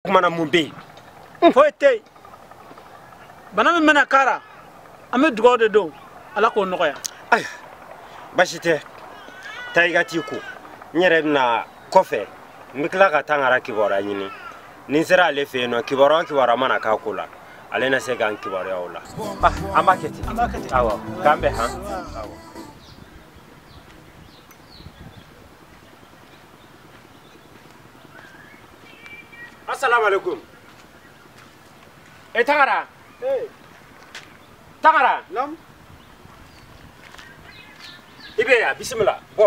o kuma na mun bɛ yen foyi tɛ yen bana min bɛna k'a la an bɛ dugawu de don ala k'o nɔgɔya ayiwa basi tɛ taa i ka t'i ko n yɛrɛ bɛ na kɔfɛ n bɛ tila ka tangara kibaruya ɲini ni n sera ale fɛ yen nɔ kibaruya o kibaruya mana k'a ko la ale na se k'an kibaruya o la ah, an b'a kɛ ten awɔ k'an bɛn han asalaamaaleykum e eh, tangara eh. tangara naamu i bɛ yan bisimila bɔ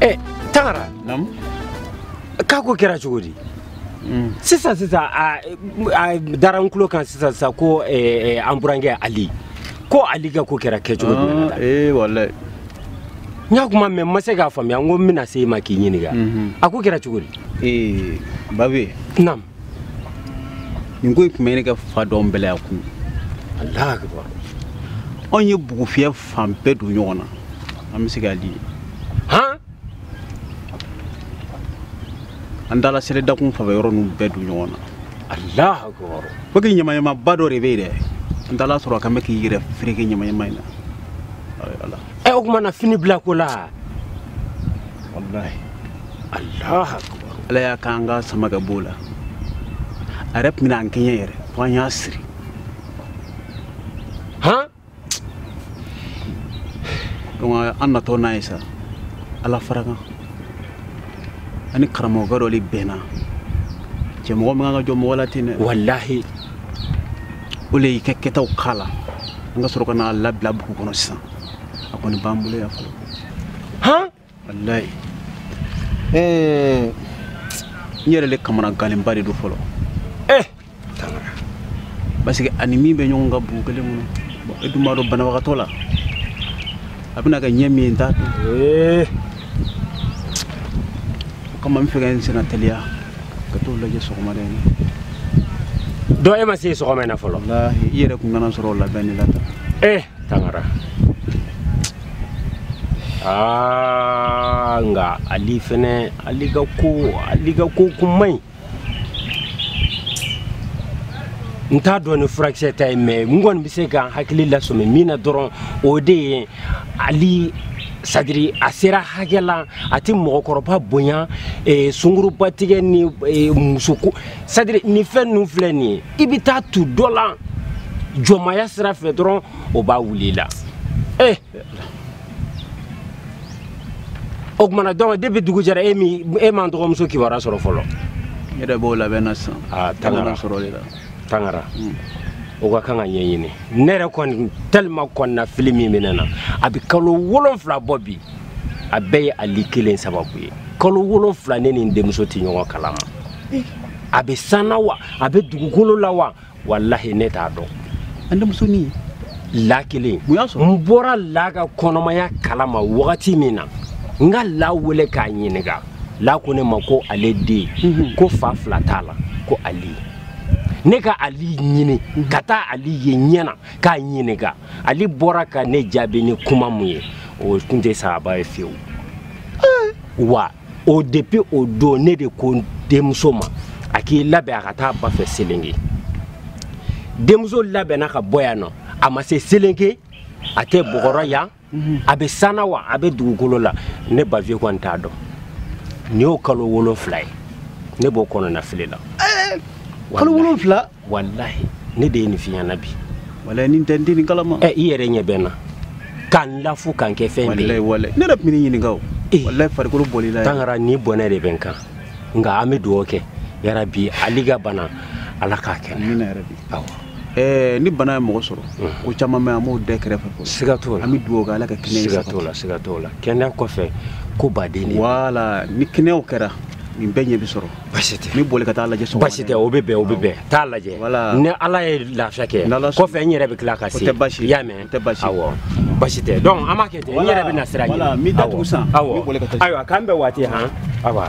ɛ tangara k'a ko kɛra cogo di mm. sisan sisan a dara n tulo kan sisan sisan ko eh, eh, an burankɛ ali ko ali ka ko kɛra kɛcogo di ah, eh, walayi n y'a kuma mɛn n ma se k'a faamuya n ko n bɛna se i ma k'i ɲininka mhm. a ko kɛra cogo di babi naamu nin ko in tun bɛ ɲini ka fa don bɛlɛya kun ala akibar anw ye bugufiyɛ fan bɛɛ don ɲɔgɔn na an bɛ se k'a di han an taala sele dakun fan fɛ yɔrɔ ninnu bɛɛ don ɲɔgɔn na ala akibar fo k'i ɲamaɲamaba dɔ de bɛ yen dɛ an taal'a sɔrɔ a kan bɛ k'i yɛrɛ fereke ɲamaɲama in na ayi ala ɛ o kuma na fini bila ko la walahi ala akibar ala y'a k'an k'a sama ka b'o la a yɛrɛ tun bɛna an kɛɲɛ yɛrɛ fo an y'a siri han donc an natɔ n'a ye sa ala fara kan an ni karamɔgɔkɛ dɔ de bɛnna cɛ mɔgɔ man kan ka jɔn mɔgɔ la ten dɛ walahi o le y'i ka kɛtaw k'a la an ka sɔrɔ ka n'a labila bugu kɔnɔ sisan a kɔni b'an bolo yan fɔlɔ han wallahi eh n yɛrɛ le kamanaganlenba de don fɔlɔ eh parce que a ni min bɛ ɲɔgɔn kan bugu kelen kɔnɔ bon e dun b'a dɔn banabagatɔ la a bɛna kɛ ɲɛ min ye n t'a dɔn eh. o kama n b'a fɛ ka n senna teliya ka t'o lajɛ sɔgɔmada in na dɔn e ma se sɔgɔma in na fɔlɔ i yɛrɛ kun nana n sɔrɔ o labɛn de la tan eh tangara aa nka ali fɛnɛ ali ka ko ali ka ko kun man ɲi n t'a dɔn ni furakisɛ ta ye mais n kɔni bɛ se ka hakili lasɔmi min na dɔrɔn o de ye ali sadiri a sera hakɛ la a tɛ mɔgɔkɔrɔba bonya eh, sungurubatigɛ ni eh, musoko sadiri ni fɛn ninnu filɛ nin ye i bɛ taa tu dɔ la jɔnmaya sira fɛ dɔrɔn o b'a wuli i la ee o tumana donc depuis dugu jɛra e min e m'an dɔgɔmuso kibaruya sɔrɔ fɔlɔ n yɛrɛ b'o labɛn na sisan aa tangara sɔrɔ de la tangara hmm. o ka kan ka ɲɛɲini ne yɛrɛ kɔni tellement kɔnɔnafili min bɛ ne na a bɛ kalo wolonfila bɔ bi a bɛɛ ye ali kelen sababu ye kalo wolonfila ne ni n denmuso tɛ ɲɔgɔn kalama eh. a bɛ san na wa a bɛ dugukolo la wa walahi ne t'a dɔn an denmusonin la kelen n bɔra la ka kɔnɔmaya kalama wagati min na n ka la wele k'a ɲininka la ko ne ma ko ale den mhm. ko fa fila t'a la ko ali ne ka ali ɲini mhm. ka taa ali ye ɲɛ na k'a ɲininka ali bɔra ka ne jaabi ni kuma mun ye o tun tɛ saaba ye fiyewu eh. wa o depuis o don ne de ko denmuso ma a k'i labɛn a ka taa ba fɛ selenge denmuso labɛnna ka bɔ yan nɔ a ma se selenge a tɛ bɔgɔrɔ yan mhm. a bɛ san na wa a bɛ dugukolo la ne baviye kɔni t'a dɔn nin y'o kalo wolonfila ye ne b'o kɔnɔnafili la eh, kalo wolonfila walahi ne de ye nin f'i ɲɛ na bi walayi nin tɛ n tɛ nin kalama ɛ i yɛrɛ ɲɛ bɛ n na ka n lafu ka n kɛ fɛn bɛɛ ye walayi ne yɛrɛ tun bɛ ne ɲininka o eh. walayi farikolo bɔl'i la tangara ni bɔnɛ de bɛ n kan nka an bɛ dugawu kɛ yarabi ali ka bana ala k'a kɛnɛ amina yarabi awɔ ɛɛ ni bana ye mɔgɔ sɔrɔ mhm. ko caman bɛ an b'o dɛ kɛrɛfɛ fɔlɔ siga t'o la an bɛ dugawu kɛ ala ka kɛnɛya siga t'o la siga t'o la kɛnɛya kɔfɛ ko baden de wala ni kɛnɛyaw kɛra nin bɛɛ ɲɛ bɛ sɔrɔ basi tɛ ne bɛ wuli ka t'a lajɛ sɔgɔma basi tɛ o bɛ bɛn o bɛ bɛn t'a lajɛ ni ala ye lafiya kɛ kɔfɛ n yɛrɛ bɛ tila ka se i y'a mɛn awɔ basi tɛ donc an b'a kɛ ten n yɛrɛ bɛ na sira ɲini awɔ ayiwa k'an bɛn waati han awa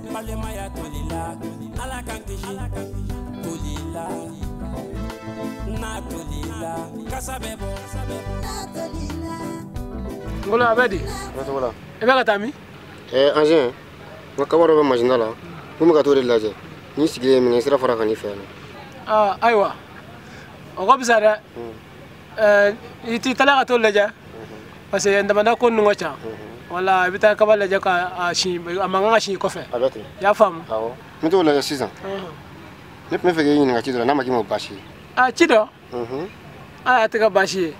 balimaya tolila ala k'an kisi toli la n'a tolila kasa bɛ bɔ ngolo a bɛ di i bɛ ka taa min anzɛn n ka kaba dɔ bɛ masin da la ko n bɛ ka t'o de lajɛ n y'i sigilen ye minkɛ sira fara ka n'i fɛ yan ayiwa o ka fisa dɛ eh, i t'i tala ka t'o lajɛ parce que damada ko ninnu ka ca wala i bɛ taa kaba lajɛ ka a si a man kan ka si kɔfɛ a bɛ ten i y'a faamu awɔ n bɛ t'o lajɛ sisan ne tun bɛ fɛ k'i ɲininka ci dɔ la n'a ma k'i ma o baasi ye a ci dɔ a a tɛ ka baasi ye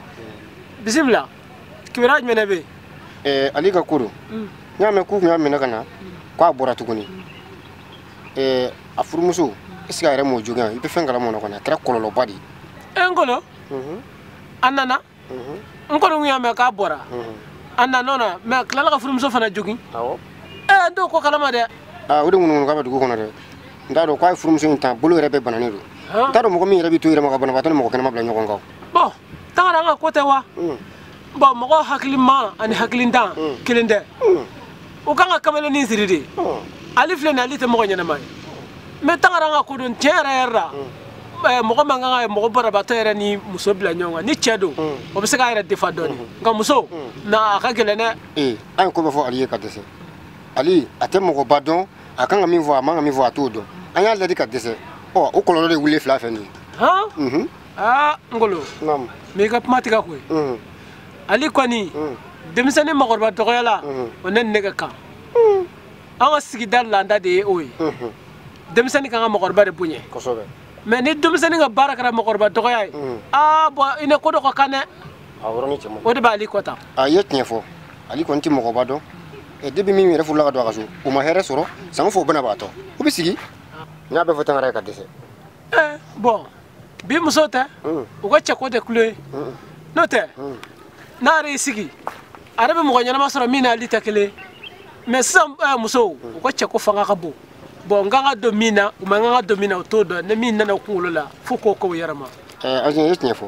bisimila kibaruya jumɛn de bɛ yen eh, ali ka ko don n y'a mɛn k'u tun y'a minɛ ka na k'a bɔra tuguni eh, a furumuso est ce que a yɛrɛ m'o jogin yan i bɛ fɛn kalama o la kɔni a kɛra kɔlɔlɔba de ye e ngolo a nana n kɔni kun y'a mɛn k'a bɔra a nan'o na mɛ a tilala ka furumuso fana jogin ɛɛ n t'o ko kalama dɛ o de ŋunuŋunukan bɛ dugu kɔnɔ dɛ n t'a dɔn k'a ye furumuso in ta bolo yɛrɛ bɛɛ bananen don n t'a dɔn mɔgɔ min yɛrɛ bɛ to yɛrɛ ma ka banabagatɔ ni mɔgɔ kɛnɛman bila ɲɔgɔn kan bɔn tangara ka ko tɛ wa bɔn mɔgɔ hakiliman ani hakilintan hmm. kelen tɛ hmm. u kan ka kamalennin siri de hmm. ali filɛ nin ali tɛ mɔgɔ ɲɛnama ye mɛ tangara ka ko don tiɲɛ yɛrɛ yɛrɛ la eh, mɔgɔ man kan ka mɔgɔ banabaatɔ yɛrɛ ni muso bila ɲɔgɔn kan ni cɛ don o bɛ se k'a yɛrɛ defa dɔɔni nka muso na a ka gɛlɛn dɛ ee an ye ko bɛɛ fɔ ali ye ka dɛsɛ ali a tɛ mɔgɔba dɔn a kan ka min fɔ a man ka min fɔ a t'o dɔn an y'a laadi ka dɛsɛ ɔ o kɔlɔlɔ de wulilen filɛ nin ye aa ngolo naamu n b'i ka kuma tigɛ koyi unhun ali kɔni unhun denmisɛnnin makɔrɔba dɔgɔya la Mhm. o ne ni ne ka kan an ka sigida laada de ye o ye unhun denmisɛnnin ka kan ka makɔrɔba de bonya kosɛbɛ mɛ ni denmisɛnnin ka baara kɛra makɔrɔba dɔgɔya ye Mhm. aa bɔn i ne ko dɔ ka kan dɛ a yɔrɔnin cɛ man ɲi. o de b'ali kɔ tan a ye tiɲɛ fɔ ale kɔni tɛ mɔgɔba dɔn ɛ depi min yɛrɛ furula ka don a ka so o ma hɛrɛ sɔrɔ sanko fɔ o bɛna b'a tɔ u bɛ sigi n y'a bɛɛ fɔ tangara ye ka dɛsɛ ɛɛ bɔn bi muso tɛ mm. u ka cɛko de kulu ye mm. n'o tɛ mm. n'a yɛrɛ y'i sigi a yɛrɛ bɛ mɔgɔ ɲɛnama sɔrɔ min n'ali tɛ kelen mɛ sisan eh, musow u ka cɛko fanga ka bon bɔn u kan ka don min na u man kan ka don min na u t'o dɔn ni min nana u kunkolo la fo k'o k'o yɛrɛ ma eh, aze ye tiɲɛ fɔ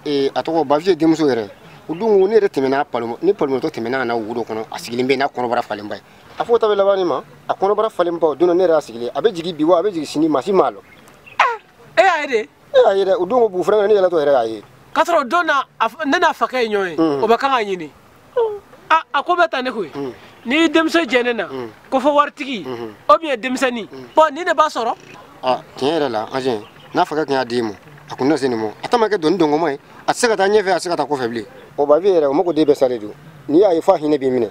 eh, a tɔgɔ baviye denmuso yɛrɛ o don ko ne yɛrɛ tɛmɛna ne palomotɔ tɛmɛna ka na wo dɔ kɔnɔ a sigilen bɛ n'a kɔnɔbara falenba ye a fɔ ta bɛ laban ma a kɔnɔbara falenba don ne yɛrɛ y'a sigilen a bɛ jigi bi wa a bɛ jigi sini maa si m'a lɔn e y'a ye de e y'a ye dɛ o don ko bugu fɛrɛnkɛ ne yaalatɔ yɛrɛ y'a ye k'a sɔrɔ o don na ne n'a fakɛ ye ɲɔgɔn ye hmm. o bɛ kan k'a ɲini ah, a ko bɛ ta ne koyi hmm. ni denmuso jɛ ne na hmm. ko fɔ waritigi o biyɛn denmisɛnnin bɔn ni ne b'a sɔrɔ ah, tiɲɛ yɛrɛ la anzɛn n'a fakɛ tun y'a di n ma a kun na se nin ma a ta ma kɛ doni dɔngɔma ye a tɛ se ka taa ɲɛfɛ a tɛ se ka taa kɔfɛ bilen o baviye yɛrɛ o mago de bɛɛ salen don n'i y'a ye f'a hinɛ b'i minɛ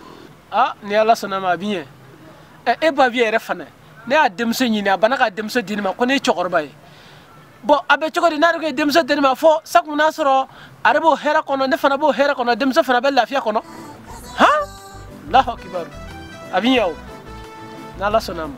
ah ni ala sɔnna ma a bi ɲɛ ɛ e baviye yɛrɛ fana ne y'a denmuso ɲini a banna ka denmuso di ne ma ko ne ye cɛkɔrɔba ye bɔn a bɛ cogo di n'a yɛrɛ kun ye denmuso di ne ma fɔ sa kun n'a sɔrɔ ale b'o hɛrɛ kɔnɔ ne fana b'o hɛrɛ kɔnɔ denmuso fana bɛ lafiya kɔnɔ alahu akibaru a bi ɲɛ o n'ala sɔnna a ma